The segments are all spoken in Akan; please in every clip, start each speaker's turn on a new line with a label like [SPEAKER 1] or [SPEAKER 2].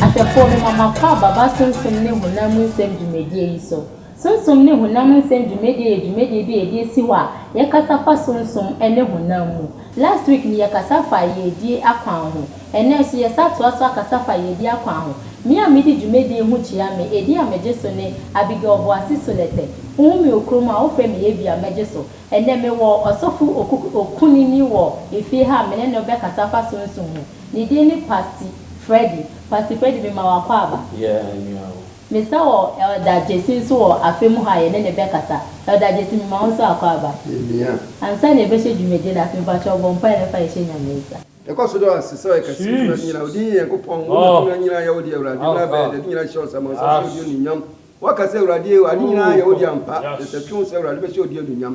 [SPEAKER 1] Ahwɛfoɔ, mema mo akwaaba, b'asensem ne honam mu nsɛm dwumadie yi so. Sunsum ne honam nsɛm dwumadie yɛ dwumadie bi a yɛde asi hɔ a yɛkasa fa sunsum ne honam mu. Last week no yɛkasa faa yiedie akwan ho. Ɛnnɛ nso yɛsa toa so akasa fa yiedie akwan ho. Me a medi dwumadie ho kyia me edin a megye so ne Abigail Boase Solete. Wohu me wɔ kurom a wofrɛ me Abia mɛgye so. Ɛnnɛ mewɔ ɔsɔfo Okuku Okunini wɔ efie ha a me ne no rebɛkasa afa sunsum ho. Ne din ne Pasti Freddy. Pasti Freddy mema wo akwaaba. Yɛɛ nua o. Mesa wɔ Elder Gyesi nso wɔ afe mu ha a yɛne no bɛkasa. Elder Gyesi, mema wo nso akwaaba. Yɛmia. Ansa na yɛbɛhyɛ dwumadi no ase, mpakyɛw bɔ mpae na fa yɛhyɛ Nyame nsa. Yɛkɔ so da wo ase sɛ woyɛ kɛse wo tumi ase nyinaa wo din yɛ Nyankopɔn wo na tumi nyinaa yɛ wo dea Awurade mmra bɛyɛ dɛ ade nyinaa hyɛ wo nsa ma wo nsa so odi anuonyam woaka sɛ Awurade ee ade nyinaa yɛ wo dea ampa yɛsɛ twe wo sɛ Awurade bɛhyɛ wo din anuonyam.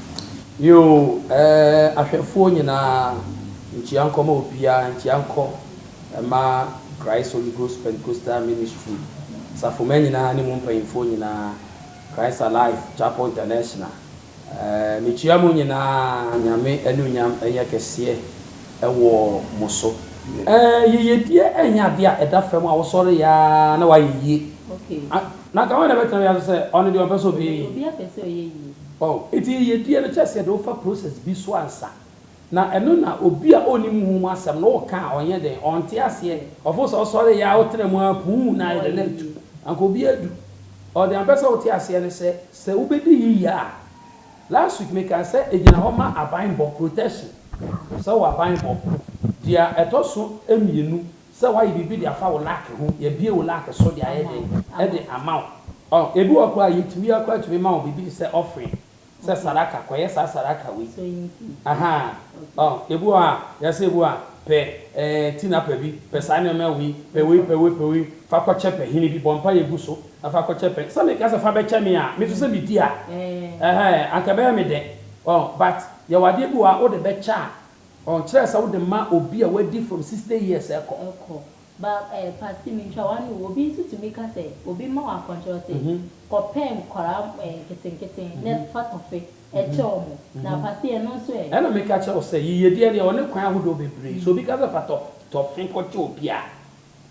[SPEAKER 1] Yiw, ɛɛ, ahwɛfoɔ nyinaa, nkyia nkɔ ma obiara, nkyia nkɔ ma Christ Holy Ghost Pentecostal Ministry, Asafomma nyinaa ne mu mpanyimfoɔ nyinaa, Christ Alive Chapel International, ɛɛ, mekyia mo nyinaa, Nyame anuonyam nyɛ kɛseɛ wɔ mo so. Ɛɛ, yiyedie nyɛ adeɛ a ɛda fam a wosɔre yɛ ara na woayɛ yie. Na anka hwan na ɛbɛtena wiase sɛ ɔno deɛ ɔmpɛ sɛ ɔbɛyɛ yie? Oh, enti yiyedie no kyɛre sɛ yɛde wo fa process bi so ansa. Na ɛno na obi a ɔnnim ho ho asɛm no woka a ɔnyɛ dɛn? Ɔnte aseɛ. Ɔfo sɛ ɔsɔre yɛ a wotena mu ara puu na ayɛ dɛn na atu. Anka obi adu. Oh, deɛ mepɛ sɛ wote aseɛ ne sɛ, sɛ wobɛdi yiye a, last week mekaa sɛ ɛgyina hɔ ma abanbɔ, protection. Sɛ wowɔ abanbɔ. Deɛ ɛtɔ so mmienu Sɛ wayɛ biribi de afa wo lake ho, yɛabue wo lake so de ayɛ dɛn? De ama wo. Ɔh, ebi wɔ hɔ koraa a, yetumi, yɛn koraa tumi ma wo biribi te sɛ offering, sɛ sadaka, kɔyɛ saa sadaka wei. Ahaa. Ɔh, ebi wɔ hɔ a, yɛse ebi wɔ hɔ a, pɛ eh, tinapa bi, pɛ saa nneɛma wei, pɛ wei, pɛ wei, pɛ wei, fa kɔkyɛ pahini bi, bɔ mpaeɛ gu so na fa kɔkyɛ pɛ. Sɛ meka sɛ fa bɛkyɛ me a, me nso sɛ medi a, ɛhɛɛ, anka ɛbɛyɛ me dɛ. Ɔh, but yɛwɔ adeɛ bi wɔ hɔ a, wode bɛkyɛ a, Ɔnkyerɛ sɛ wode ma obi a wadi from sixty years ɛkɔ. Ɛkɔ. Ba eh, Pastor mintwa w'ano o, obi nso tumi ka sɛ obi mma wo akɔnkyerɛ wo se kɔ pɛ nkwadaa eh, nketenketen na fa tɔfe ɛkyɛ wɔn. Na Pastor ɛno nso ɛ? Ɛna meka kyerɛ wo sɛ yiyedeɛ deɛ ɔne kwan ahodoɔ bebree. Sɛ obi ka sɛ fa tɔfe kɔkyɛ obi a.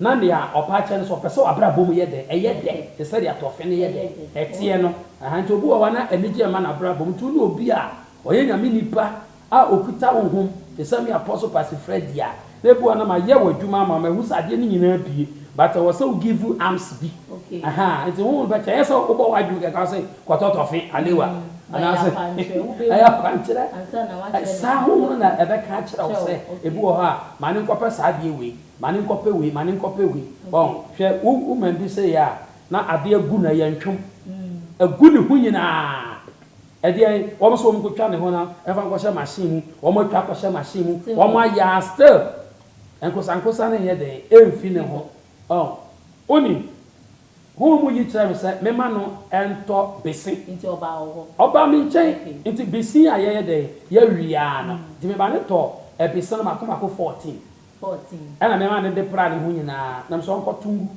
[SPEAKER 1] Na nea ɔpɛ akyɛ no nso, ɔpɛ sɛ w'abrabɔ mu yɛ dɛn? Ɛyɛ dɛ te sɛ deɛ tɔfe no yɛ dɛn? Ɛteɛ no. Ahaa, nti obi wɔ hɔ a na anigyeɛ mma n'abrabɔ mu, nti wone obi a ɔyɛ Nyame nipa a ɔkuta honhom te sɛ me Apostle Pastor Freddie a, na ebi wɔ hɔ a na mayɛ w'adwuma ama wo, mahu sɛ adeɛ no nyinaa abue, but ɛwɔ sɛ wo give arms bi. Ahaa, nti honhom no bɛkyɛ, ɛnyɛ sɛ wobɔ w'adwene kɛkɛ ase kɔtɔ tɔfe, alewa, anaasɛ ɛyɛ akwankyerɛ, saa honhom no na ɛbɛka akyerɛ wo sɛ ebi wɔ hɔ a ma ne nkɔpɛ saa adeɛ wei. Ma no nkɔpɛ wei, ma no nkɔpɛ wei. Wɔn, hwɛ, wo, wo man bi sei a, na adeɛ agu no, ɛyɛ ntwom. Agu ne ho nyinaa. Ɛdeɛn, wɔn nso wɔn nkɔtwa ne ho na ɛmfa nkɔhyɛ machine mu, wɔn atwa akɔhyɛ machine mu, wɔn ayɛ a, still, nkosankosa no nyɛ dɛn, ɛmfiri ne ho. Wɔn, wonim, Honhom yi kyerɛɛ me sɛ memma no ntɔ bese. Nti ɔbaa wo hɔ. Ɔbaa me nkyɛn. Okay. Nti bese a yɛyɛ dɛn, yɛwe ara no, nti mema no tɔɔ ɛbese no mako mako fourteen. 14. Ɛna nneɛma a nede pra ne ho nyinaa, na mese ɔnkɔto ngu.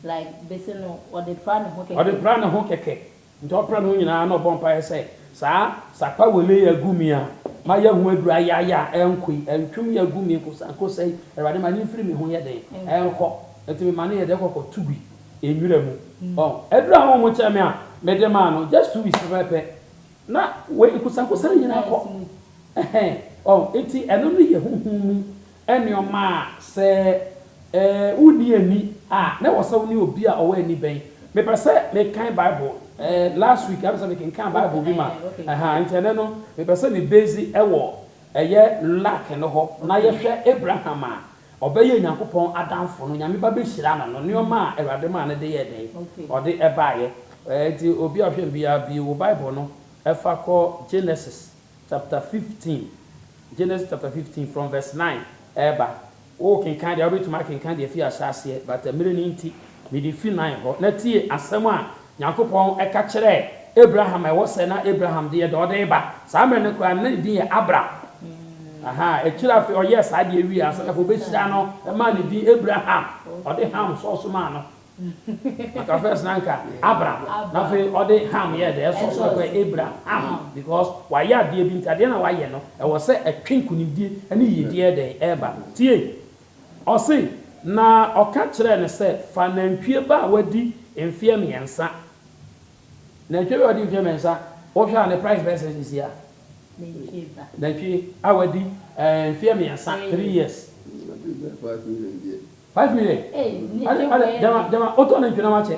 [SPEAKER 1] Like bese no, ɔde pra ne ho kɛkɛ. Ɔde pra ne ho kɛkɛ. Nti ɔpra ne ho nyinaa na ɔbɔ mpaeɛ sɛ, Saa sakpa wele yi agu mi a, mayɛ ho aduru ayaya a, ɛnkɔ yi, ɛntwem yi agu mi nkosa nkosa yi, Awurade ma ne mfiri me ho nyɛ dɛn? Ɛnkɔ. Nti mema no yɛ dɛn? Kɔkɔ to gui nwura mu. Ɔho. Aduru a wɔn kyerɛ me a mede maa no, just two weeks pɛpɛpɛ, Na wei nkosankosa no nyinaa kɔ ɛhɛn ɔn nti ɛno no yɛ honhom mu nnoɔma a sɛ ɛɛ wonni ani a na ɛwɔ sɛ wo ne obi a ɔwɔ ani bɛn. Mepɛ sɛ me kan bible ɛɛ last week ayɛ me sɛ me kenkan bible bi ma ɛhaa nti ɛnɛ no mepɛ sɛ me base ɛwɔ ɛyɛ luck no hɔ na yɛ hwɛ Abraham a Ɔbɛyɛ Nyankopɔn adamfo no, Nyame ba bɛhyira no no, nnoɔma a Awurade maa no de yɛɛ dɛn? Ɔde ɛbaeɛ. Nti obi a ɔhwɛ me biara bue wo Bible no fa kɔ Genesis chapter fifteen, Genesis chapter fifteen from verse nine ɛɛba. Wo kenkan deɛ a, wobɛtumi akenkan deɛ ɛfiri ahyɛaseɛ, but mmerɛ no nti, mede firi nine hɔ. Na tie asɛm a Nyankopɔn ka kyerɛɛ Abraham ɛwɔ sɛ na Abraham deɛ deɛ ɔde reba saa mmerɛ no koraa no na ne din yɛ Abram ahaa akyire afei ɔyɛɛ saa deɛ wieɛ ansa na afei ɔbɛhyira no maa ne din Abraham ɔde Ham sɔɔso maa no anka first na anka Abram na afei ɔde Ham yɛɛ dɛ ɛsɔɔso na kɔɛ Abraham because wayɛ adeɛ bi nti adeɛ na wayɛ no ɛwɔ sɛ ɛtwe nkonimdie ne yiedie ɛdɛn ɛba tie. Ɔse, na ɔka kyerɛɛ no sɛ, Fa nantwie ba a wadi mfeɛ mmiɛnsa. Nantwie wei a ɔdi mfeɛ mmiɛnsa, wohwɛ a ne price bɛyɛ sɛn seesei a? Nantwie ba. Nantwie a wadi eh, mfeɛ mmiɛnsa, three years. Nantwie bɛyɛ five million deɛ. Five million? Ei, ne deɛ wei yɛ den. Gyama, gyama, wotɔ nantwie no ama kyɛ.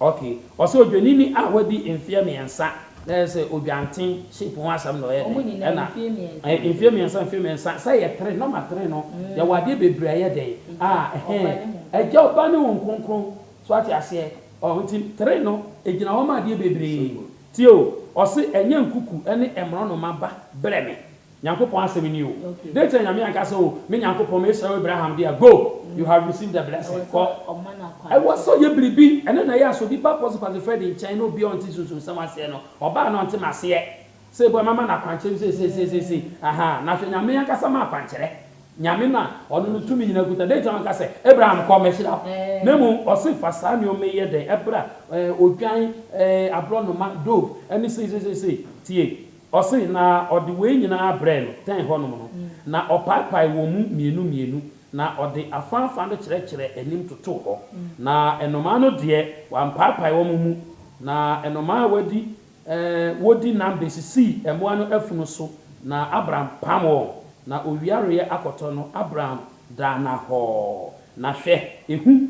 [SPEAKER 1] Ok ɔsɛ odwanini a wadi mfeɛ miɛnsa na ɛyɛ sɛ odwanten shape ho asɛm na ɔyɛ dɛn ɛna mfeɛ miɛnsa mfeɛ miɛnsa sɛ yɛ three nɔma three no yɛwɔ adeɛ bebree a ɛyɛ dɛn a ɛhɛn agya ɔba ne hon kronkron so wate aseɛ ɔho nti three no ɛgyina hɔ ma adeɛ bebree nti o ɔse ɛnyɛ nkuku ɛne ɛmorɔnoma ba brɛ me. Nyankopɔn asɛm ni o. Dɛn nti na Nyame anka sɛ, O me Nyankopɔn, mesrɛ wo Abraham deɛ, go, you have received the blessing, kɔ. Ɛwɔ sɛ ɔyɛ biribi. Ɛno na ɛyɛ a sɛ obi ba Apostle Kwasi Freddy nkyɛn na obiara a ɔnte Sunsum nsɛm aseɛ no, ɔbaa na ɔnte m'aseɛ, sɛ ebua mɛma no akwankyerɛ bi seisei seisei seisei, ahaa, na hwɛ Nyame ankasa ma akwankyerɛ. Nyame no a Ɔno no tumi nyinaa kuta, dɛn nti na wanka sɛ, Abraham kɔ, mɛhyira wo? Na mmom Ɔse fa saa nnoɔma yi yɛ dɛn? Ɛbra, eh, odwan, eh, aborɔnoma, dove, ɛne seisei seisei. Tie. Ɔse, na ɔde wei nyinaa brɛɛ no tɛn hɔnom no, na ɔpaepae wɔn mu mmienu mmienu, na ɔde afaafa no kyerɛkyerɛɛ anim totoo hɔ, na nnomaa no deɛ, wampaepae wɔn mu, na nnomaa a wɔadi, wɔdi nam bɛsisii mmoa no afunu so, na Abram pam wɔn, na owia reyɛ akɔtɔ no, Abram Daa na hɔɔ, na hwɛ, ehu,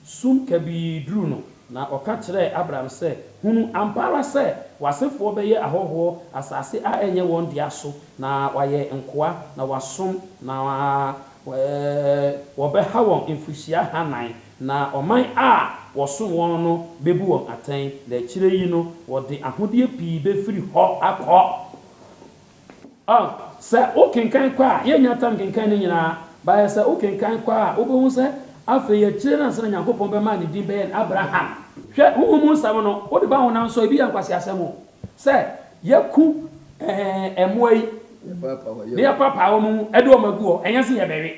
[SPEAKER 1] sum kabii duruu no, na ɔka kyerɛɛ Abram sɛ, Hunu ampa ara sɛ w'asefoɔ bɛyɛ ahɔhoɔ asase a ɛnyɛ wɔn dea so, na wɔayɛ nkoa, na wɔasom, na wɔbɛha wɔn mfirihyia hanan, na ɔman a wɔsom wɔn no bɛbu wɔn atɛn, na akyire yi no wɔde ahodeɛ pii bɛfiri hɔ akɔ. A Sɛ wokenkan kɔ a, yennya tam kenkan ne nyinaa. Bayɛ sɛ wokenkan kɔ a, wubehu sɛ afei akyiri no ansa na Nyankopɔn bɛma a ne din bɛyɛ no Abraham. Hwɛ, honhom mu nsɛm no, wode ba honam so a, ebi yɛ nkwaseasɛm o, sɛ yɛaku ɛɛ mmoa yi, na yɛapaapae wɔn mu de wɔn agu hɔ, ɛnyɛ sɛ yɛbɛwe.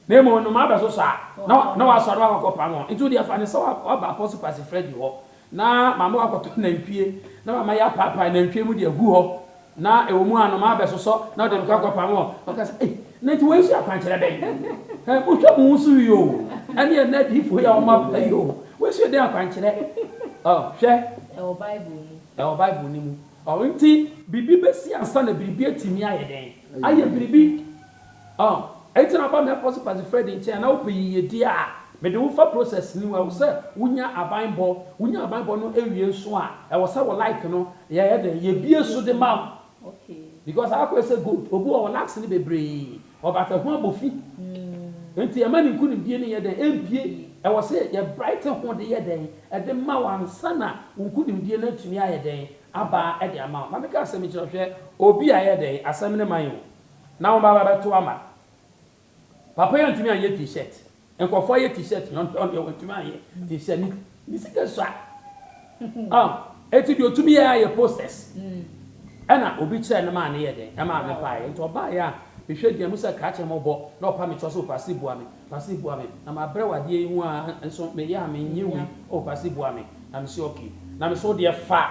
[SPEAKER 1] Na mmom nnomaa bɛsosɔ a, na na wɔasoa na wɔakɔkɔpam wɔn. Nti wo deɛ fa no sɛ woaba Apostle Kwasi Freddy hɔ na mama woakɔtɔ nantwie na mama yɛapaapae nantwie mu de agu hɔ na ɛwɔ mu a nnomaa bɛsosɔ na wode me kɔ akɔpam wɔn. Wɔka sɛ, Ei, na nti wei nso yɛ akwankyerɛ bɛn? Hɛ, monhwɛ mo ho so yie o, ɛne ɛnnɛ adiyifoɔ yi a wɔaba yi o, wei nso yɛ dɛn akwankyerɛ? Ɔ, hwɛ. Ɛwɔ Bible mu. Ɛwɔ Bible no mu. Ɔ, nti. Biribi bɛsi ansa na biribi atumi ayɛ dɛn? Ayɛ biribi. Oh, enti na aba me Apostle Kwasi Freddy nkyɛn a na wopɛ yiyedi a, mede wo fa process no mu, ɛwɔ sɛ wo nya aban bɔ, wo nya aban bɔ no ɛwie nso a, ɛwɔ sɛ wo like no, yɛ yɛ dɛn, yɛ bie so de ma wo, because akɔ yɛ sɛ gold, obi wɔ hɔ likes no bebree, wɔ but ɛho abɔ fi, enti ɛma ne nkunimdie no yɛ dɛn, ɛmpie, ɛwɔ sɛ yɛ bright ho de yɛ dɛn, ɛde ma wo ansa na wo nkunimdie no atumi ayɛ dɛn, aba de ama wo, na me kaa sɛ mekyerɛ hwɛ, obi a yɛ dɛn, asɛm no ma yɛn o. Na wɔn bɛba bɛto ama. Papa yi antumi anyɛ t shirt nkurɔfoɔ ayɛ t shirt yɛ ɔntɔn deɛ wɔntumi anyɛ t shirt ne ne sika sua ah eti deɛ otumi yɛ ayɛ posters ɛna obi kyerɛ ne maa ne yɛ dɛ ɛmaa me paa yɛ nti ɔbaa yɛ a mehwɛ deɛ mo sɛ krakye mo bɔ na ɔpa me kyɛ sɛ ɔpɛ ase bua me Pastor boa me na ma brɛ wo adeɛ yi ho aa nso me yɛ a me nyɛ wei oh pastor boa me na me se okay na me se wo deɛ fa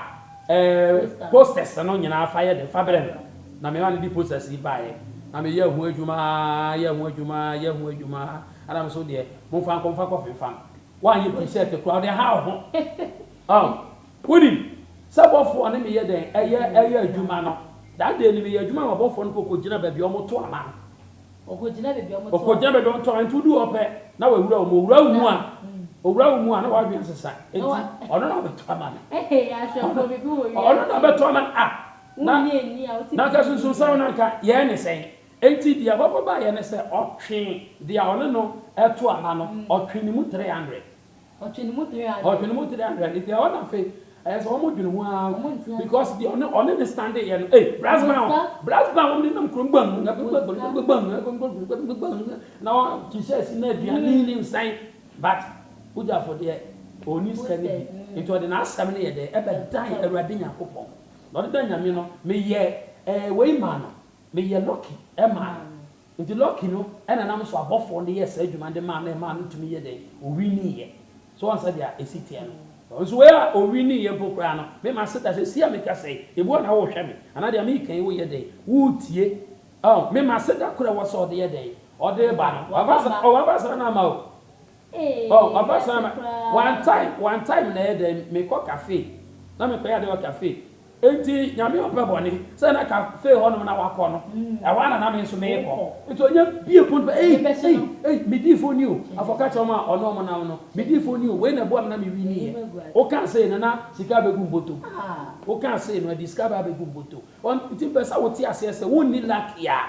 [SPEAKER 1] eh posters no nyinaa fa yɛ den fa brɛ me na me ma no de posters yi baeɛ na me yɛ ho adwuma aa yɛ ho adwuma aa yɛ ho adwuma aa ɛna me se wo deɛ mo mfa nkɔ mfa kɔ fe mfam woanyɛ t-shirt koraa wo deɛ how ho oh wo nim sɛ bɔfoɔ ne me yɛ dɛn ɛyɛ ɛyɛ adwuma no that day no me yɛ adwuma ma bɔfoɔ no kɔ kɔ gyina baabi a wɔn to ama no. Ɔkɔgyina baabi a wɔtɔn. Ɔkɔgyina baabi a wɔtɔn. Nti woduu hɔ pɛ, na wawura wo mu. Owura wo mu a, owura wo mu a, na w'adwene asesa. Nti ɔno na ɔbɛtɔ ama me. Ɔno na ɔbɛtɔ ama me. Ah! Na na anka sunsunsɛm no anka yɛn ne sɛn? Nti deɛ ɔbɛbɔ baeɛ ne sɛ, ɔtwee deɛ a ɔne no reto ama no, ɔtwee ne mu three hundred. Ɔtwe ne mu tere adwene. Ɔtwe ne mu tere adwene nti ɛhɔ na afei ɛyɛ sɛ wɔn dwene ho ara because deɛ ɔne ɔne ne stande yɛ no ee brass band brass band wɔn de nam kurom gbam na wɔn ti sɛ ɛsi na aduane ne nsɛn but Ujafo deɛ ɔni sika ne bi nti ɔde n'asɛm no yɛ dɛ ɛbɛ dan awurade nyankopɔn na ɔde dan nyame no meyɛ ɛɛ wei maa no meyɛ lucky ɛmaa no Nti lucky no na ɛnam so abɔfoɔ no yɛɛ saa adwuma no de maa no ɛmaa no tumi yɛ dɛn? Ɔwiniiɛ. So woahu sɛdeɛ a ɛsi teɛ no? Nso wei a ɔwiniiɛ mpo koraa no, me mase da sɛ, see a meka sɛ yi, ebi wɔ hɔ a na worehwɛ me, anaa deɛ mereka yi woreyɛ dɛn? Woretie. Ɔho, me mase da koro a ɛwɔ sɛ ɔde yɛ dɛn? Ɔde ba no. Waba saa, ɔwaba saa na ama o. Ee, Oh, ɔba saa wiase ma koraa. one time, one time na ɛyɛ dɛn me kɔ cafe na me kɔyɛ ade wɔ cafe. Enti Nyame ɔmpɛ bɔne, sɛ na cafe hɔ nom na wakɔ no, ɛhɔ ara na na me nso merekɔ. Wokɔ. Enti ɔnya bie pon pɛ, ei, Mebɛso ei, nam. ei, me dii foni o, afɔ ka kyerɛ wɔn a ɔne wɔn nam no, me dii foni o, wei na ɛboa me na me wini Meyi yɛ. m'agu ase. Wo kaa sei no na sika abɛgu mboto mu. Ah. Wo kaa sei no ɛde sika ba abɛgu mboto. Ɔn, nti mpɛ sɛ wo te aseɛ sɛ wo nni lucky a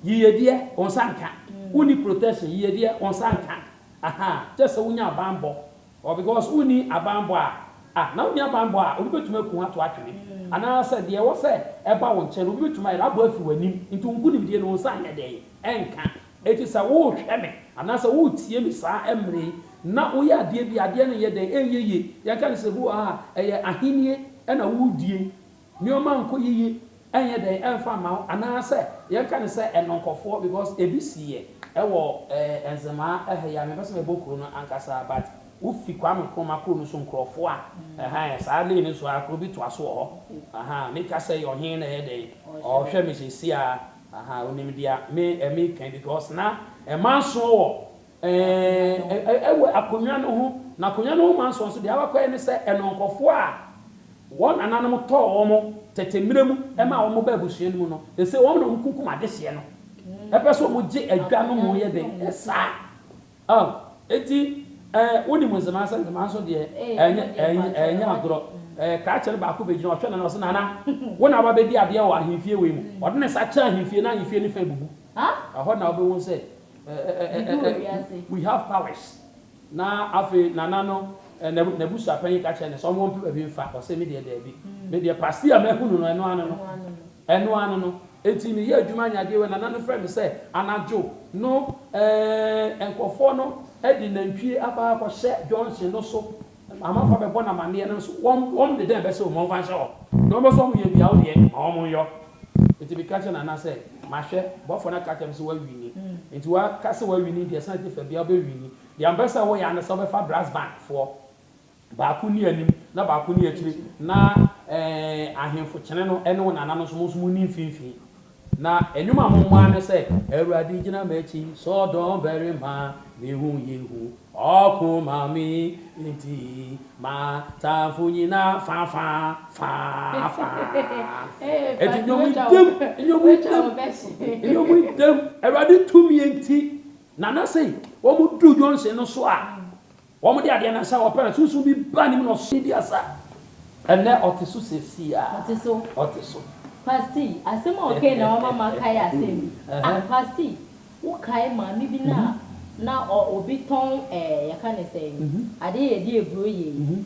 [SPEAKER 1] Yiyedeɛ, wo nsa nka. Wonni protection, yiyedeɛ, wo nsa nka. Ahaa, kyerɛ sɛ wonya abanbɔ. Ɔ, because wonni abanbɔ a, ah, na wonni abanbɔ a, obi bɛtumi aku wo ato atwene. Anaasɛ deɛ ɛwɔ sɛ ɛba wo nkyɛn no, obi bɛtumi ayɛ dɛ abɔ afiri w'anim. Nti wo nkonimdie no, wo nsa nyɛ dɛn? Ɛnka. Enti sɛ worehwɛ me, anaasɛ woretie me saa mmerɛ yi, na woyɛ adeɛ bi a, adeɛ no nyɛ dɛn? Ɛnyɛ yie. Yɛnka no sɛ, bi wɔ hɔ a, ɛyɛ ahennie na woredie. Nneɛma ankɔ yiye, ɛnyɛ dɛn ɛmfa mma wo anaa sɛ yɛnka no sɛ ɛnɔnkɔfoɔ because ɛbi siiɛ ɛwɔ ɛɛ nzemaa ɛha yi a mempɛ sɛ mɛbɔ kuro no ankasa but wo fi Kwame Nkrumah kuro no so nkurɔfoɔ a ɛhaa saa lane no so ara kuro bi toa so wɔ hɔ ahaa meka sɛ yɛ ɔhen na ɛyɛ dɛn ɔɔhwɛ me sɛsi ara ahaa onim deɛ me ɛmeka yi because na ɛmansoɔ wɔ Ɛɛ, ɛwɔ akonnwa no ho. Na akonnwa no ho ma nsoɔnso deɛ abɛkɔyɛ ne sɛ ɛno nkorɔfoɔ a wɔn nananom tɔɔ wɔn tɛtɛ mmerɛ mu maa wɔn baa abusua no mu no, ɛsɛ wɔn na wɔn kunkum adehyeɛ no. Ɛpɛ sɛ wɔn gye adwa no mu yɛ den saa. Aw, enti ɛɛ, wo nim Nzema sɛ Nzema nso deɛ ɛnyɛ, ɛnyɛ, ɛnyɛ agorɔ. Ɛɛ, Krakye no baako bɛgyina hɔ, ɔhwɛ Nana, ɔse, Nana, wo na woaba abɛdi adeɛ wɔ ahemfie wei mu. Ɔde ne nsa kyerɛ ahemfie na ahemfie no fã bubu. Ɛhɔ na wobɛhu sɛ we have powers. Na afei Nana no n'abusuapanyin ka kyerɛɛ no sɛ ɔmompew baabi mfa, ɔse medeɛ daabi, medeɛ pastee a mahunu no ɛno ano no, ɛno ano no. Enti meyɛɛ adwuma nya adeɛ wei, Nana no frɛɛ me sɛ anadwo no nkurɔfoɔ no de nantwie aba akɔhyɛ junction no so Amanfoɔ a bɛbɔ no amaneɛ no nso, wɔn, wɔn de dɛn bɛhyɛ wo ma wɔmfa nhyɛ wɔn? Deɛ wɔbɛsɛ wɔn yɛ biara, wo deɛ, ma wɔn nyɔ. Enti meka kyerɛɛ Nana sɛ, Mahwɛ, bɔfoɔ no aka akyerɛ me sɛ woawini. Enti woaka sɛ woawini deɛ, sane te fa biara wobɛwini. Deɛ mepɛ sɛ woyɛ ara ne sɛ wobɛfa brass band foɔ, baako nni anim na baako nni akyire, na, ɛɛ, ahemfo kyene no ne wo Nana no nso, mo nso monni mfimfini. Na nnwom a mommɔ ara ne sɛ. Awurade gyina m'akyi, sɛ ɔdɔmbarima, me ho yɛ hu, ɔko ma me, enti m'atamfo nyinaa fa fa, fa fa. Enti nnwom ntɛm, nnwom ntɛm, nnwom ntɛm. Awurade tumi nti, Nana sei, wɔduru Johnson no so a. Wɔde adeɛ no nsa wɔpɛ no, sunsum bi baa ne mu na ɔsoo ne dua saa. Ɛnnɛ ɔte so seesei ara. Ɔte so. Ɔte so. Pastor, asɛm a ɔkae na wama makae asɛm bi. Ah, Pastor, wokae maame bi no a na ɔ, obi tɔn ɛɛ, yɛka no sɛn, adeɛ a yɛde aburo yɛ yi?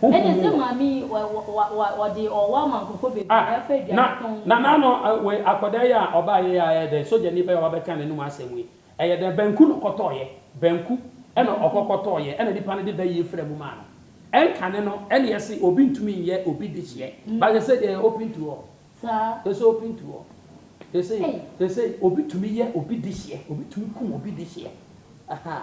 [SPEAKER 1] Honhom mu wɔ. Ah, na, na n'ano eh, wei, akɔdaa yi a ɔbaa yɛ yi a ɛyɛ dɛn, sogyani bɛn a wabɛka n'anum asɛm yi, ɛyɛ dɛn, banku na ɔkɔtɔɔeɛ, banku ɛna ɔkɔkɔtɔɔeɛ, ɛna nipa no de bɛyie fra mu maa no, ɛnkane no, ɛneɛ se obi ntumi nyɛ obi dehyeɛ, but sesei deɛ ɛyɛ open to all, ɛsɛ open to all, sesei, sesei obi tumi yɛ obi dehyeɛ, obi tumi kum obi dehyeɛ, ahaa.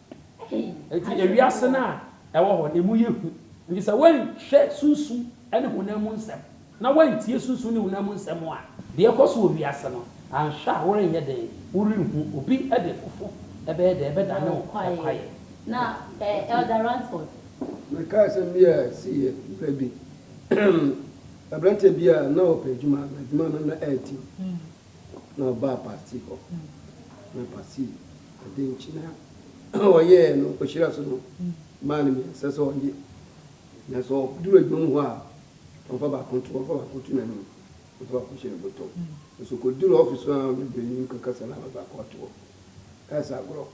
[SPEAKER 1] Enti ewiase no a ɛwɔ hɔ no, emu yɛ hu. Enti sɛ woanhwɛ sunsum ne honam mu nsɛm, na woantie sunsum ne honam mu nsɛm a, deɛ ɛrekɔ so wɔ wiase no, anhwɛ a worenyɛ dɛn? Worenhu. Obi de fofo bɛyɛ dɛn? Ɛbɛdane wo kwaeɛ. Na Elder Ransford? Mekae sɛm bi a ɛsii yɛ berɛ bi. Aberanteɛ bi a na ɔpɛ adwuma, na adwuma no na ɛretim. Na ɔbaa Pasi hɔ, na Pasi de nkyene a ɔyɛɛ no ɔhyira so no maa no mmiɛnsa sɛ ɔnyɛ. Na sɛ ɔduru adwuma mu hɔ a, ɔmfa baako nto hɔ, ɔmfa baako nto n'anim, ɔmfa baako nhyɛ ne bɔtɔ. Nanso ɔkɔduru ɔfis hɔ a, ɔne buroni no kɔkasa na ɔde baako ato hɔ. Ɛyɛ sɛ agorɔ.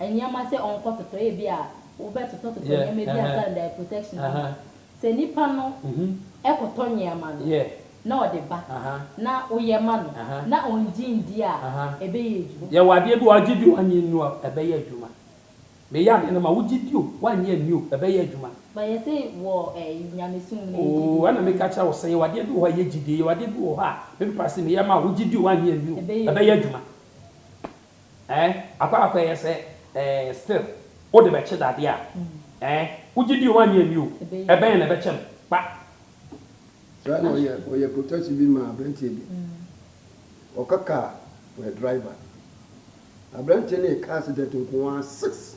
[SPEAKER 1] nneɛma sɛ ɔnkɔtotɔ ebia wobɛtotɔtotɔ nneɛma bi ansa na dae protection aba a, sɛ nipa no kɔtɔ nneɛma no na ɔde ba na woyɛ ma no na ɔngye ndi a, ɛbɛyɛ adwuma. Yɛwɔ adeɛ bi a ɔgye di wannye nni a, ɛbɛyɛ adwuma. Meyɛ adeɛ no ma wogye di o, wannye anni o, ɛbɛyɛ adwuma. But yɛse wɔ nyamesom mu no yɛgye di. Oo, ɛna meka kyerɛ wo sɛ yɛwɔ adeɛ bi wɔ hɔ a ɛyɛ gyidie, yɛwɔ adeɛ bi wɔ hɔ a, me papa se meyɛ ma wo, wogye di o, wannye anni o, ɛbɛyɛ adwuma. Eh akɔ akɔ ɛyɛ sɛ eh still wo de bɛ kye dade a eh wo gye di o anyɛ ni o ɛbɛyɛ na ɛbɛkyɛ no kpa. Saa na ɔyɛ ɔyɛ protest bi maa abranteɛ bi ɔka car for a driver abranteɛ no yɛ car accident nkoaa six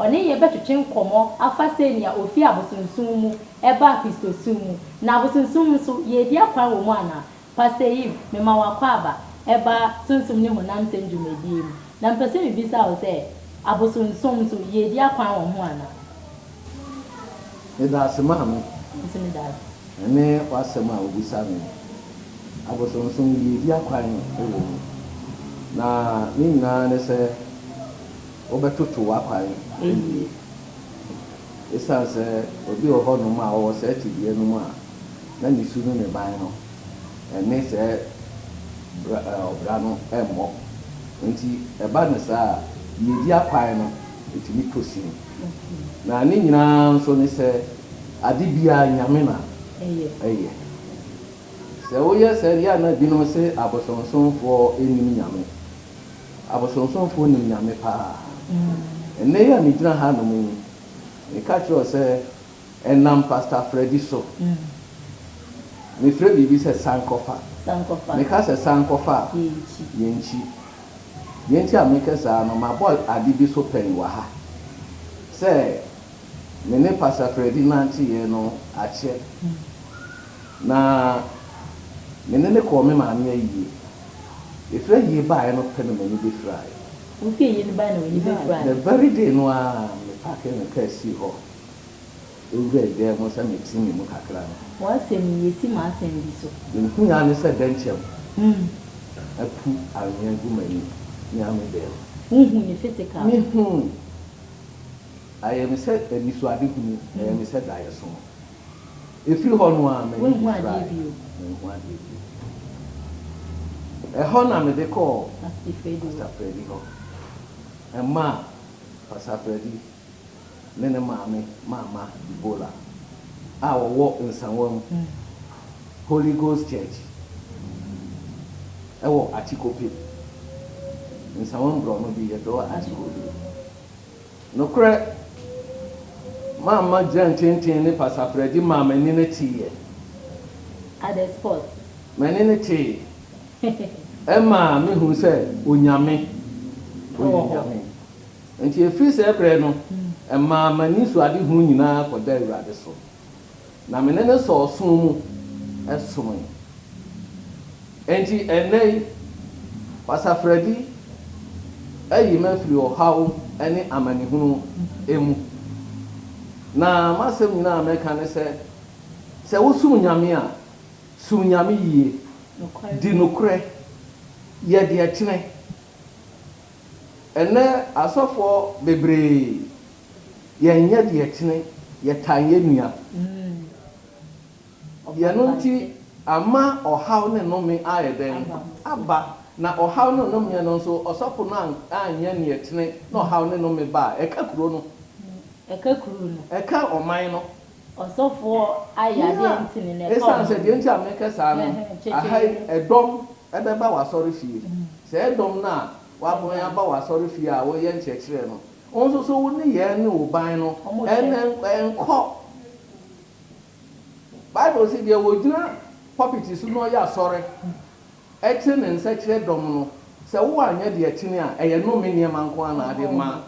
[SPEAKER 1] Ɔne yɛn bɛtwetwe nkɔmmɔ afa sɛnea ofii abosonsom mu baa Kristosom mu. Na abosonsom nso, yɛredi akwan wɔ mu anaa? Pastor Eve, mema wo akwaaba ba Sunsum ne honam nsɛm dwumadie mu. Na mepɛ sɛ mebisa wo sɛ, abosonsom nso, yɛredi akwan wɔ ho anaa? Medaase Maame. Me nso medaase. Ɛne w'asɛm a wobisa me no, abosonsom, yɛredi akwan wɔ mu. Na ne nyinaa ne sɛ. Wobɛtoto w'akwan awie. Esiane sɛ obi wɔ hɔnom a ɔwɔ saa tebea no mu a na ne su ne ne ban no ne saa bra ɔbra no mmɔ nti, ɛba no saa a, deɛ ɛdi akwan no ɛtumi tɔ sin. Na ne nyina ara nso ne sɛ, ade biara Nyame na ɛyɛ. Sɛ woyɛ saa deɛ a na binom se abosomsomfoɔ nnim Nyame. abosonsomfoɔ nim Nyame paa. Ɛnnɛ yi a megyina hanom yi, meka kyerɛ wo sɛ ɛnam Pastor Freddie so. Mefrɛ biribi sɛ sankɔfa. Meka sɛ sankɔfa a, yɛnkyi. Deɛ nti a meka saa no, mabɔ ade bi so pɛn wɔ ha sɛ me ne Pastor Freddie nanteeɛ no akyɛ. Na me ne no kɔɔ me maame ayie. Yɛfiri ayie baeɛ no pɛ na m'ani bɛfiraeɛ. Wofiri ayie no baeɛ na w'ani bɛfiraeɛ? Yeah, the very day no ara me paakee me kaa sii hɔ bɛwuraa dan mu sɛ mete me mu kakra no. W'asɛm yi, yɛsi m'asɛm bi so. Mehuui ara ne sɛ dɛnkyɛm apu anwea gu m'ani ne amebɛn mu. Wohuu no physical? Mehuu. Ayɛ me sɛ anisoadehunu, ɛyɛɛ me sɛ daeɛso. Ɛfiri hɔ no ara m'ani gye firaeɛ. Manhu adeɛ bio. Ɛhɔ na mede kɔɔ Pastor Freddie hɔ. Ɛmaa Pastor Freddie ne ne maame Maama Debola a wɔwɔ Nsawam Holy Ghost Church wɔ Akyikope, Nsawam borɔno bi yɛfrɛ hɔ Akyikope. Nokorɛ, mamma gyirantenten ne pasapradi maa m'ani no teeɛ. Ade spot. M'ani no tee. Ɛmaa me huu sɛ Onyame ɔyɛ Nyame. Enti ɛfiri saa berɛ no, ɛmaa m'anisoadehu nyinaa kɔda Awurade so. Na me ne no sɔɔ ɔsom mu somee. Enti ɛnnɛ yi, Basaferadi ayi me afiri ɔhaw ne amanehunu mu. Na m'asɛm nyinaa a mɛka ne sɛ, sɛ wosom Nyame a, som Nyame yie, di nokorɛ, yɛ deɛ ɛtene. Ɛnnɛ asɔfoɔ bebree. yɛnyɛ deɛ ɛtene, yɛtan yɛn nua. Deɛ ɛno nti ama ɔhaw ne nnome ayɛ dɛn? Aba. Na ɔhaw ne nnomeɛ no nso, ɔsɔfo no anyɛ deɛ ɛtene na ɔhaw ne nnome ba a, ɛka kuro no. Ɛka kuro no. Ɛka ɔman no. Ɔsɔfoɔ ayɛ adeɛ a ɛntene no, ɛka ɔman no. Ɛsiane sɛ, deɛ nti a meka saa no, aha yi ɛdɔm bɛba w'asɔrefie. Sɛ ɛyɛ dɔm no a, wɔaban aba w'asɔrefie a woyɛ nkyerɛkyerɛ no. Wo nso so wo nneyɛɛ ne wo ban no nkɔ. Bible se deɛ ɔgyina pulpit so na ɔyɛ asɔre kyere ne nsa kyerɛ dɔm no, sɛ wo anyɛ deɛ ɛtene a, ɛyɛ nnome nneɛma nko ara na ade ma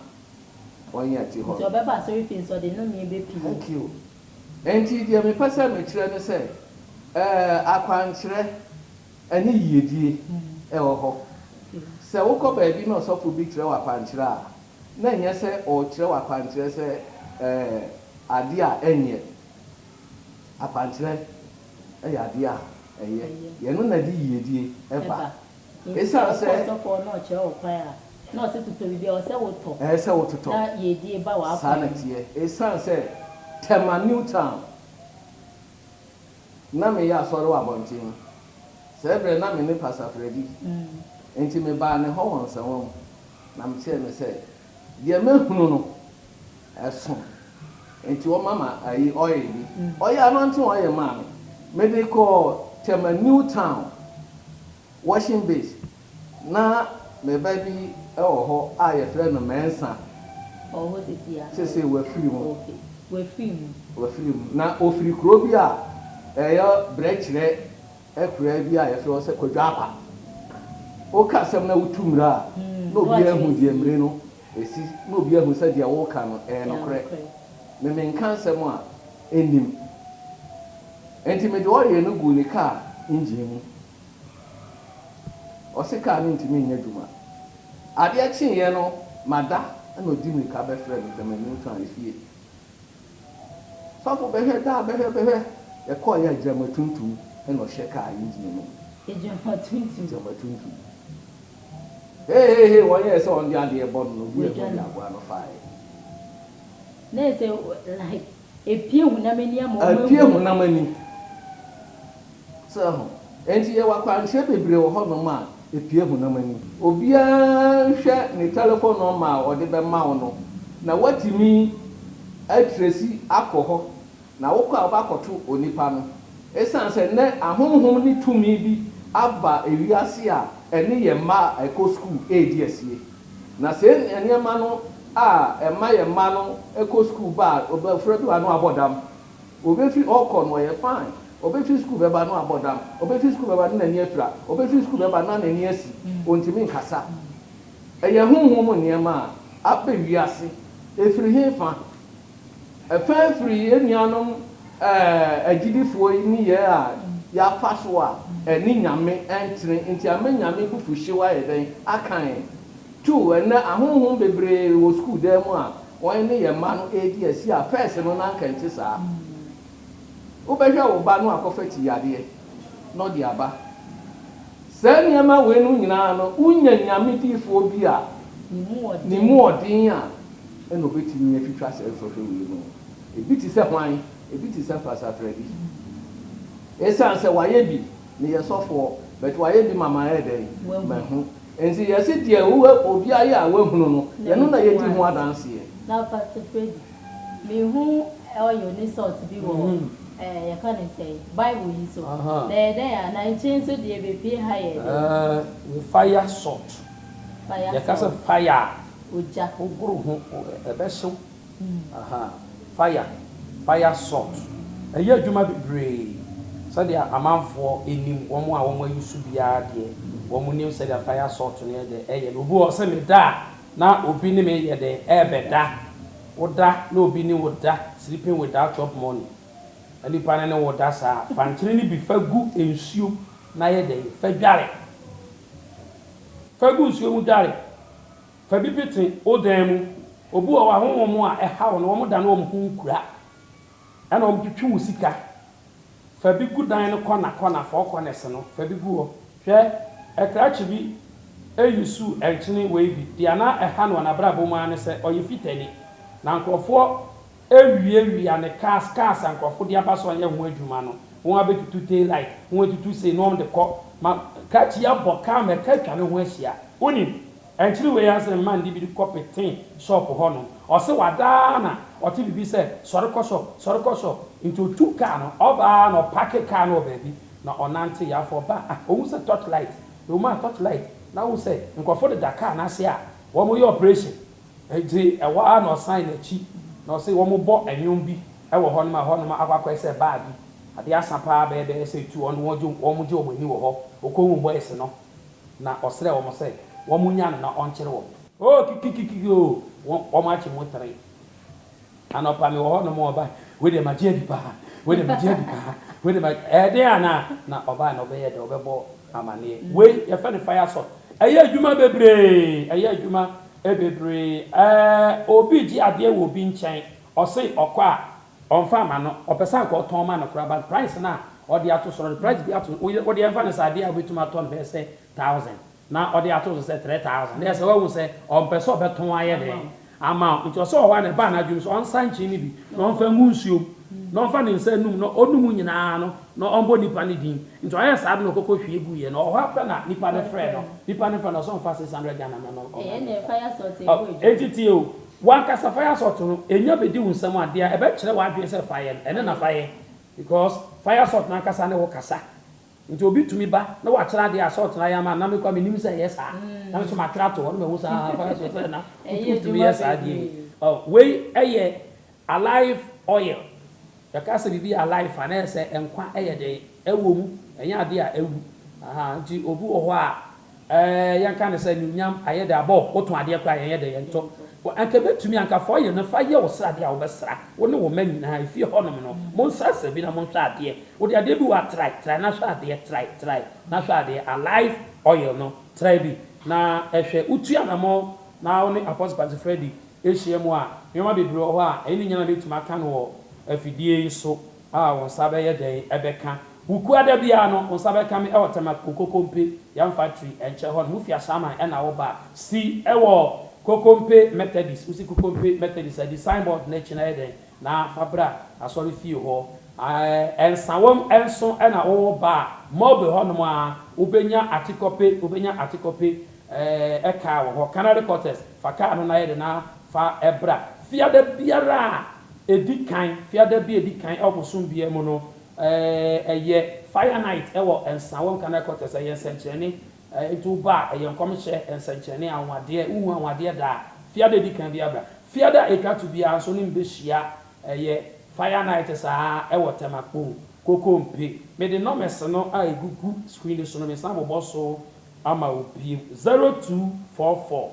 [SPEAKER 1] wɔn a ɛte hɔ no. Nti ɔbɛba asɔre fie nso ɔde nnome bɛpie. Thank you. Nti deɛ mepɛ sɛ mekyerɛ ne sɛ, eh, akwankyerɛ Ɛne yiedie wɔ hɔ. Sɛ wokɔ baabi na ɔsɔfo bi kyerɛ wo akwankyerɛ a, na ɛnyɛ sɛ ɔrekyerɛ wo akwankyerɛ sɛ adeɛ a ɛnyɛ. Akwankyerɛ yɛ adeɛ a ɛyɛ. Ɛno na ɛde yiedie ba. Ɛsiane sɛ. Nti sɛ wokɔ ɔsɔfo hɔ na ɔkyerɛ wo kwan a, na ɔse totɔ biribi a, ɛwɔ sɛ wotɔ. Ɛwɔ sɛ wototɔ. Na yiedie ba w'akwan mu. Saa na ɛteɛ. Ɛsiane sɛ Tema Newtown. na meyɛ asɔre wɔ abɔnten. Saa berɛ na me ne Pastor Freddie. Enti mebaa ne hɔ wɔ nsɛmma mu, na mekyerɛɛ no sɛ deɛ mahunu no, ɛso. Enti wɔma me ayi oil bi. Ɔyɛ anointing oil maa me. Mede kɔɔ Tema New Town washing base. Ná me ba bi wɔ hɔ a yɛfrɛ no Mensah. Ɔwɔ hɔ seesei a? Seesei wafiri mu. Okay. Wafiri mu. Wafiri mu. Ná ɔfiri kuro bi a ɛyɛ berɛkyerɛ akuraa bi a yɛfrɛ hɔ sɛ Kwadwoapa. Woka asɛm na wotu mmire a, na obiara ahu deɛ mmire no si, na obiara ahu sɛ deɛ woreka no yɛ nokorɛ. Me menka asɛm a ɛnnim. Enti mede ɔyere no guu ne kaa engine mu, Ɔse car no ntumi nyɛ adwuma. Adeɛ kyeeɛ no mada na ɔdi mirika bɛfrɛɛ me pɛ m'anim kaa efie. Sɔfo bɛhwɛ daa bɛhwɛ bɛhwɛ yɛkɔeɛ a gyama tuntum na ɔhyɛ car engine no mu. Gyama tuntum. Gyama tuntum. Hehehe wɔn yɛɛ sɛ wɔn de adeɛ bɔ no na obi a ɛbɔ dua aboa no faaɛ. Na ɛsɛ like. Epue honam ani ama wɔahu. Epue honam ani. So ahu? Enti yɛwɔ akwankyerɛ bebree wɔ hɔnom a epue honam ani. Obiara nhwɛ ne telefon nɔma a ɔde bɛma wo no, na woatumi atresi akɔ hɔ, na wokɔ a wobɛakɔto onipa no. Esiane sɛ nnɛ ahonhom ne tumi bi aba wiase a ɛne yɛn mma a ɛkɔ sukuu redi asie. Na sɛ yenya nneɛma no a ɛma yɛn mma no kɔ sukuu ba a, abofra bi wɔ ha no abɔ dam. Obefi hɔ kɔ no ɔyɛ fine. Obefi sukuu bɛba no abɔ dam. Obefi sukuu bɛba no n'ani afira. Obefi sukuu bɛba no na n'ani asi. Ontumi nkasa. Ɛyɛ honhom nneɛma a aba wiase. Efiri hefa? Fa firi yɛn nuanom agyidifoɔ yi nneyɛɛ a yɛafa so a ɛne Nyame ntene nti ama Nyame abufuhyew ayɛ dɛn? Aka yɛn. To, ɛnnɛ ahonhom bebree wɔ sukuu dan mu a wɔn ne yɛn mma no redi asi a first no na anka ɛnte saa. Wobɛhwɛ wo ba no a kɔfa ti yadeɛ. no de aba. Saa nneɛma wei nom nyinaa no, wonya Nyame difoɔ bi a ne mu ɔden a, ɛna ɔbɛtumi atwitwa saa nsɔhwɛ wei nom. Ɛbi te sɛ hwan? Ɛbi te sɛ Mpasaferɛ bi. Ɛsiane sɛ wayɛ bi, meyɛ sɔfoɔ, but wayɛ bi ma mayɛ dɛn? Mahu. Nti yɛse deɛ obi ayɛ a wahunu no, yɛno na yɛdi ho adanseɛ. Na Mpasaferɛ bi? Mehu oil ne salt bi wɔ ɛɛ yɛka no sɛn Bible yi so. Ahaa. Na ɛyɛ dɛn a? Na nkyene nso deɛ bepue ha yɛ dɛn? Ɛɛ fire salt. Fire salt. Yɛka sɛ fire a. Ogya. Wogoro ho ɛbɛhyew. Ahaa fire, fire salt. Ɛyɛ adwuma bebree sɛdeɛ amanfoɔ nim wɔn a wɔayi so biara deɛ wɔn nim sɛdeɛ fire salt no yɛ dɛn ɛyɛ no. Obi wɔ hɔ ɔsɛ meda a. Na obi ne me yɛ dɛn ɛɛbɛda? Woda na obi ne wo da sleeping without chop money na nipa no ne wo da saa a, fa nkyene no bi fa gu nsuo na yɛ dɛn fa dware. Fa gu nsuo mu dware. Fa bi pete wo dan mu. Obi wɔ hɔ a honhom a ɛhaw no wɔn da no wɔn ho nkura ɛna wɔn twetwe wo sika Fa bi gu dan no kɔna kɔna, four corners no, fa bi gu hɔ. Hwɛ, ɛkrakye bi usuu nkyene wei bi. Deɛ na ɛha no wɔ n'abrabɔ mu ara ne sɛ ɔyɛ Fitani. Na nkorɔfoɔ awiawia ne cars, cars a nkorɔfoɔ de aba sɛ wɔnyɛ ho adwuma no, wɔn abɛtutu tail light, wɔn atutu sei na wɔn de kɔ. Ma krakye yi abɔ car ma ɛka atwa ne ho ahyia. Wonim? Akyiri wei ara se mma ndi bi kɔ petee shop hɔ nom. Ɔse wadaa na ɔte bibi sɛ sɔre kɔ shop, sɔre kɔ shop. Nti otuu car no, ɔba ara na ɔpake car no wɔ baabi na ɔnantee. Afei ɔba a, ohu sɛ torch light na ɔmu a torch light na wohu sɛ nkurɔfo deda car no ase a wɔreyɛ operation. Nti ɛhɔ ara na ɔsan n'akyi na ɔse wɔbɔ nnwom bi wɔ hɔ nom a ɛhɔ nom akɔ akɔyɛ sɛ baa bi. Adeɛ asa paa bɛyɛ bɛyɛ sɛ two ɔno wɔgye wɔn ani wɔ hɔ. Ɔkɔhuu boys no. na ɔsrɛɛ wɔn sɛ wɔnnya no na ɔnkyere wɔn. Oh, kikikikiki o, wɔakye mo tere. Anɔpa mewɔ hɔnom, ɔbaa, wei deɛ magye adi paa, wei deɛ magye adi paa, wei deɛ magye, ɛyɛ den anaa? Na ɔbaa no, ɔbɛyɛ dɛ, ɔbɛbɔ amanneɛ. Wei, yɛfrɛ no fire salt. Ɛyɛ adwuma bebree, ɛyɛ adwuma bebree. Ɛɛ, obi regye adeɛ wɔ obi nkyɛn, ɔse ɔkɔ a, Ɔnfa ma no, ɔpɛ sɛ anka ɔtɔn ma no koraa but price no a ɔde ato so no, ɔde price bi ato so, wo deɛ mfa no sɛ adeɛ a wobɛtumi atɔ no bɛyɛ sɛ thousand na ɔde ato so sɛ three thousand na ɛsɛ woahu sɛ ɔmpɛ sɛ ɔbɛtɔn ayɛ dɛn ama wo nti ɔsɛ ɔwɔ hɔ a na ɛbaa n'adwenem sɛ ɔnsa nkyen no bi na ɔmfa ngu nsuo mu na ɔmfa ne nsa nnum na ɔnum nyinaa no na ɔmbɔ nipa no din nti ɔyɛɛ saa de na ɔkɔkɔ hwie guiɛ no ɔwɔ hɔ a pɛ na nipa no frɛ no nipa no frɛ no ɔsɛ ɔmfa six hundred Ghana mma no ɔmfa nkɔma no enti tie o Wankasa fire salt no nya bedi wo nsam a dea ɛbɛkyerɛ w'adwene sɛ fa yɛ no ɛno na fa yɛ because fire salt no ankasa ne wo kasa nti obi tumi ba na watwerɛ adeɛ a salt no ayɛ ama no na me koraa menim sɛ ɛyɛ saa na me nso matwerɛ ato hɔ na mahu sɛ haa fire salt na wotumi yɛ saa adeɛ yi. Wei yɛ alive oil yɛka sɛ biribi yɛ alive a na ɛyɛ sɛ nkwa yɛ dɛn ɛwɔ mu ɛnyɛ adeɛ a awu ahaa nti obi wɔ hɔ a Ɛɛ, yɛnka no sɛ anuonyam, ayɛ dɛ, abɔ wo tõ adeɛ koraa a, yɛnyɛ dɛ, yɛntɔ. Wɔ, anka ɛbɛtumi, anka fa ɔyɛ no fa yɛ wo sradeɛ a wobɛsra, wo ne wo mma nyinaa, efie hɔnom no. Monsrasra bi na monhwɛ adeɛ. Wode adeɛ bi wɔ ha, trae, trae na hwɛ adeɛ, trae, trae na hwɛ adeɛ, alive oil no, trae bi na hwɛ. Wotu anammɔn na wo ne Apostle Kwasi Freddie hyia mu a, nneɛma bebree wɔ hɔ a, ɛno nyinaa na mɛtumi aka no wɔ afidie yi so. A wo nsa bɛyɛ dɛn bɛka? Wukua da biara no, wo nsa bɛka me wɔ Tema Kokompe Yam Factory nkyɛn hɔ no. Mo fi Ashaiman na woba a, si wɔ Kokompe Methodist, wusi Kokompe Methodist a, di sign board no akyi na yɛ dɛn na fa bra asɔre fie hɔ. Ɛɛ, Nsawam nso na woba a, Mulberry hɔnom a, wobɛnya Atikɔpe, wobɛnya Atikɔpe ɛɛ car wɔ hɔ, Canary Quarters. Fa car no na yɛ dɛn na Fa bra. Fiada biara a ɛdi kan, Fiada bi a ɛdi kan wɔ bosom biara mu no, ɛyɛ Fire Night wɔ Nsa Wɔ Nkran Headquarters. Ɛyɛ nsɛnkyerɛnne. Nti wo ba a, ɛyɛ nkɔmhyɛ, nsɛnkyerɛnne, anwanwadeɛ. Wohu anwanwadeɛ da a, Fiada a ɛdi kan biara bra. Fiada a ɛtwa to biara nso ne me bɛhyia. Ɛyɛ Fire Night saa wɔ Tɛmakpong, Kokompe. Mede numbers no a ɛgugu screen no so no, mesan abobɔ so ama wo bio, 0244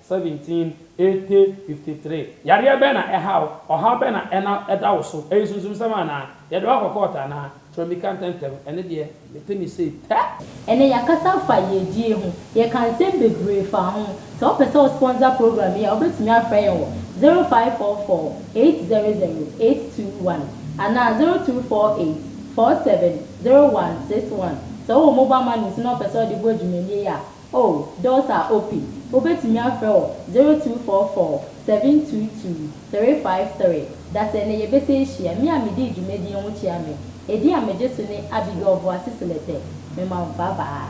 [SPEAKER 1] 17, 80, 53. Yareɛ bɛn na ɛha wo? Ɔhaw bɛn na ɛna ɛda wo so? Ɛyɛ sunsumsɛm anaa? Yɛde wo akɔ kɔɔto anaa? Kyerɛ mi ka ntɛmntɛm. Ɛno deɛ, mete me sei tɛ! Ɛnnɛ yɛakasa afa yiedie ho. Yɛkaa nsɛm bebree faa ho. Sɛ wopɛ sɛ wo sponsor program yi a, wobɛtumi afrɛ yɛn wɔ 0544 800 821 anaa 0248 47 0161. Sɛ wowɔ mobile money nso na wopɛ sɛ wode boa dwumadie yi a, Oh, Delta Opay, wobɛtumi afrɛ wɔ 0244-722-353. Dasɛ nnɛ yɛbɛsan ahyia. Me a medii dwumadie ho kyea me. Ɛdin a megye so ne Abigail Boase Seletɛ. Mema wo bye bye.